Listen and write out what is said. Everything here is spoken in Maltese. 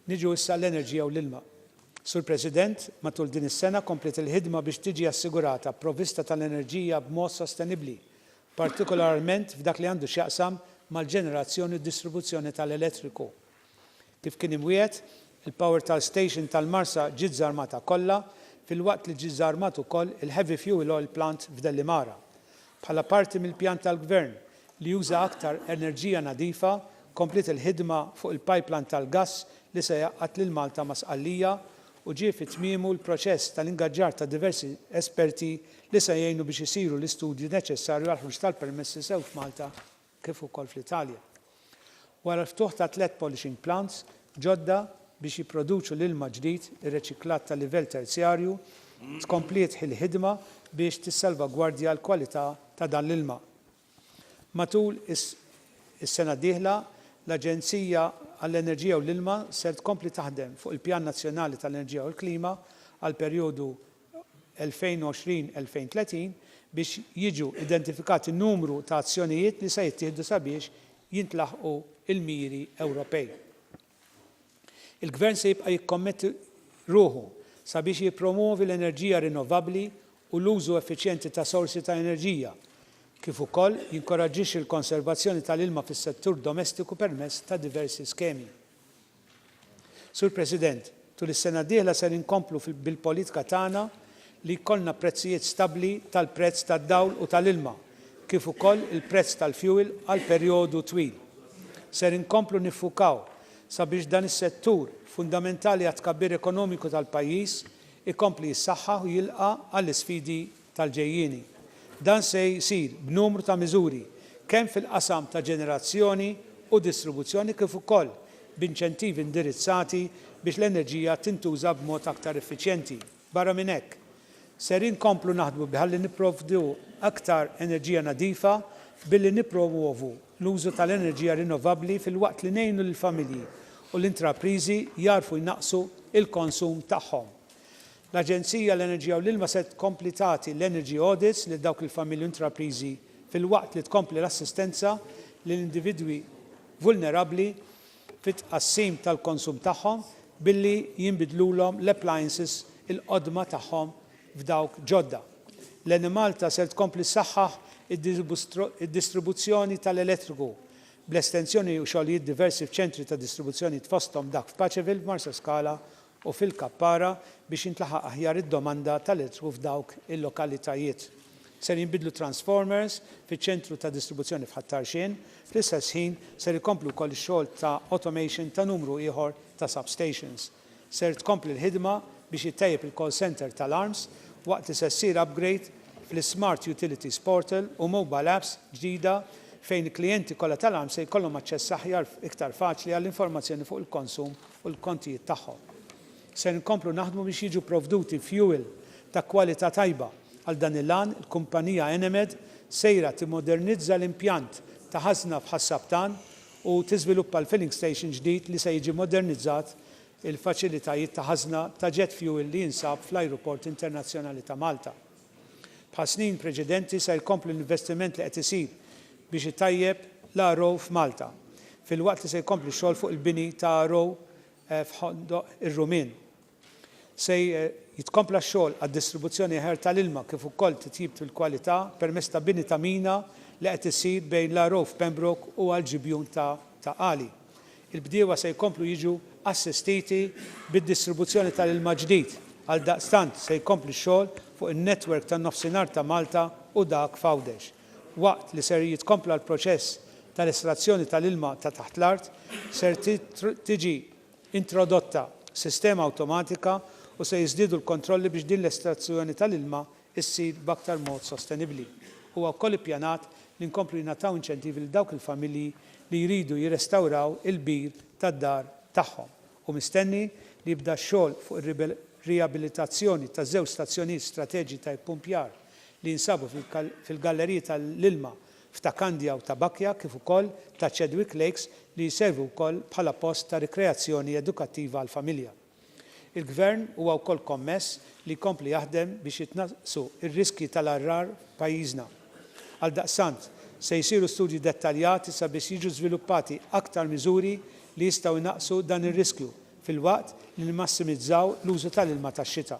Niġu issa l-enerġija u l-ilma. Sur President, matul din is-sena kompliet il-ħidma biex tiġi assigurata provvista tal-enerġija b'mod sostenibbli, partikolarment f'dak li għandu x'jaqsam mal-ġenerazzjoni u d-distribuzzjoni tal-elettriku. Kif kien imwiegħed, il-power tal station tal-Marsa ġiet żarmata kollha, filwaqt li ġie żarmat ukoll il-heavy fuel oil plant f'Dellimara. Bħala parti mill-pjan tal-Gvern li juża aktar enerġija nadifa, kompliet il-ħidma fuq il-pipeline tal-gass li se jgħaqqad lil Malta ma' Sqallija u ġie fi tmiemu l-proċess tal-ingaġġar ta' diversi esperti li se jgħinu biex isiru l-istudji neċessarju għall-ħruġ tal-permessi sew f'Malta kif ukoll fl-Italja. Wara l-ftuħ ta' tliet polishing plants ġodda biex jipproduċu l-ilma ġdid irreċiklat ta' livell terzjarju, tkompliet il-ħidma biex tissalvagwardja l-kwalità ta' dan l-ilma. Matul is-sena d-dieħla, l-Aġenzija għall-Enerġija u l-Ilma ser tkompli taħdem fuq il-Pjan Nazzjonali tal-Enerġija u l-Klima għall-perjodu 2020-2030 biex jiġu identifikati numru ta' azzjonijiet li se jittieħdu sabiex jintlaħqu l-miri Ewropej. Il-Gvern se jibqa' jikkommetti ruħu sabiex jippromwovi l-enerġija rinnovabbli u l-użu effiċjenti ta' sorsi ta' enerġija, kif ukoll jinkoraġġixxi l-konservazzjoni tal-ilma fis-settur domestiku permezz ta' diversi skemi. Sur President, tul is-sena d-dieħla ser inkomplu bil-politika tagħna li jkollna prezzijiet stabbli tal-prezz tad-dawl u tal-ilma kif ukoll il-prezz tal-fjuwil għal perjodu twil. Ser inkomplu niffukaw sabiex dan is-settur fundamentali għat-tkabbir ekonomiku tal-pajjiż ikompli jissaħħaħ u jilqa' għall-isfidi tal-ġejjieni. Dan se jsir b'numru ta' miżuri, kemm fil-qasam ta' ġenerazzjoni u distribuzzjoni kif ukoll b'inċentivi indirizzati biex l-enerġija tintuża b'mod aktar effiċjenti. Barra minn hekk, ser inkomplu naħdmu bħalli nipprovdu aktar enerġija nadifa billi nippromwovu l-użu tal-enerġija rinnovabbli filwaqt li ngħinu lill-familji u l-intrapriżi jagħrfu jnaqqsu l-konsum tagħhom. L-Aġenzija għall-Enerġija u l-Ilma se tkompli tagħti l-energy audits lil dawk il-familji u intrapriżi filwaqt li tkompli l-assistenza lil individwi vulnerabbli fit-tqassim tal-konsum tagħhom billi jinbidlulhom l-appliances il-qodma tagħhom f'dawk ġodda. L-Enemalta ser tkompli ssaħħaħ id-distribuzzjoni tal-elettriku bl-estensjoni u xogħlijiet diversi f'ċentri ta' distribuzzjoni f'fosthom dak f'Paceville, f'Marsaskala u fil-Kappara biex jintlaħaq aħjar id-domanda tal-elettriku f'dawk il-lokalitajiet. Ser jinbidlu transformers fiċ-ċentru ta' distribuzzjoni f'Ħat-Tarxien. Fl-istess ħin ser ikomplu wkoll ix-xogħol ta' automation ta' numru ieħor ta' substations. Ser tkompli l-ħidma biex jittejjeb il-call centre tal-Arms waqt li se ssir upgrade fl-iSmart Utilities Portal u mobile apps ġdida fejn il-klijenti kollha tal-Arms se jkollhom aċċess aħjar iktar faċli għall-informazzjoni fuq il-konsum u l-kontijiet tagħhom. Ser inkomplu naħdmu biex jiġu pprovduti fjuwil ta' kwalità tajba. Għal dan il-għan, il-kumpanija Enemed sejra timmodernizza l-impjant ta' ħażna f'Ħas-Sabtan u tiżviluppa l-filling station ġdid li se jiġi mmodernizzat il-faċilitajiet ta' ħażna ta' jet fuel li jinsab fl-Ajruport Internazzjonali ta' Malta. Bħas-snin preċedenti ser jkompli l-investiment li qed isir biex itejjeb l-RO f'Malta, filwaqt li se jkompli x-xogħol fuq il-bini ta' RO f'Ħondoq ir-Rumien. Se jitkompla x-xogħol għad-distribuzzjoni aħjar tal-ilma kif ukoll titjib fil-kwalità permezz ta' bini ta' mina li qed isir bejn l-RO f'Pembroke u għall-ġibjun ta' Qali. Il-bdiewa se jkomplu jiġu assistiti bid-distribuzzjoni tal-ilma ġdid, għaldaqstant se jkompli x-xogħol fuq in-network tan-Nofsinhar ta' Malta u dak f'Għawdex. Waqt li ser jitkompla l-proċess tal-estrazzjoni tal-ilma ta' taħt l-art, ser tiġi introdotta sistema awtomatika u se jiżdiedu l-kontrolli biex din l-estrazzjoni tal-ilma issir b'aktar mod sostenibbli. Huwa wkoll ippjanat li nkomplu jingħataw inċentivi lil dawk il-familji li jridu jirrestawraw il-bir tad-dar tagħhom. Hu mistenni li jibda x-xogħol fuq ir-riabilitazzjoni taż-żewġ stazzjonijiet strateġi ta' ippumpjar li jinsabu fil-galleriji tal-ilma f'Ta' Kandja u Ta' Bakja kif ukoll ta' Chadwick Lakes li jservu wkoll bħala post ta' rikreazzjoni edukattiva għall-familja. Il-Gvern huwa wkoll kommess li jkompli jaħdem biex jitnaqqsu r-riskji tal-għargħar f'pajjiżna. Għaldaqstant, se jsiru studji dettaljati sabiex jiġu żviluppati aktar miżuri li jistgħu jnaqqsu dan ir-riskju filwaqt li nimmassimizzaw l-użu tal-ilma tax-xita.